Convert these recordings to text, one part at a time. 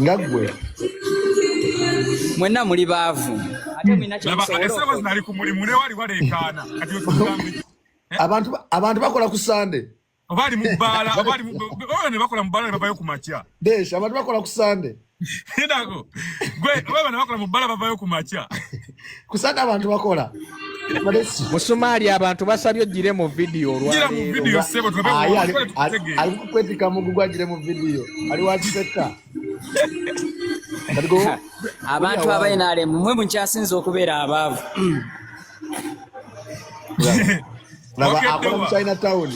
nga gwe mwenna muli baavu abantu bakola ku sande obaali mubaala ne bakola mubaala ne bavayo ku makya desh abantu bakola ku sande gwe bana bakola mubaala bavayo ku makya kusaka abantu bakola musumaali abantu basabye ogire mu vidiyo olwalikukwettika mugugu agire mu vidiyo ali wakisetta abantu abainalemu mwe mukyasinza okubeera abaavu laba akola mu china town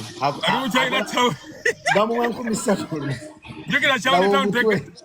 bamuwa nkumi satu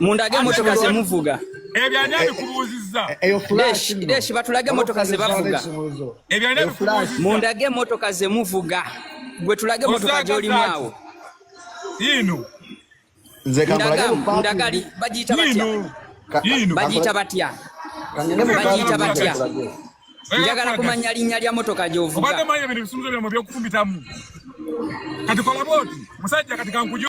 mundage emotoka zemuvuga ebyo ani abikubuuzizza deshi batulage emotoka zebavuga ebyo ani abikubuuzizza mundage emotoka zemuvuga gwe tulage emotoka gyolimu awo yiino ndagali bagiyita batya bagiyita batya bagiyita batya njagala kumanya linnya lya motoka gyovuga kati kolabooti musajja kati kankujo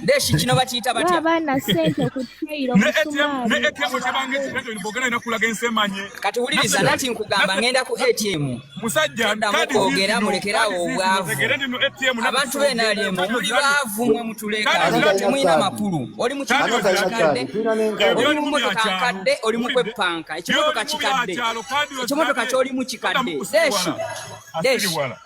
Deshi kino bakiyita batya? Abaana ssente ku trail omusumaabi. Ne ATM kyabange kitezo libogana ina kulaga ensemanye. Kati wuliriza nati nkugamba ngenda ku ATM. Musajja kadi ogera mulekera obwavu. Abantu bena ali mu muli bavu mwe mutuleka. Abantu mwina makulu. Oli mu kyaalo kakadde. Oli mu moto kakadde, oli mu kwepanka. Ekimoto kakikadde. Ekimoto kakyoli mu kikadde. Deshi. Deshi.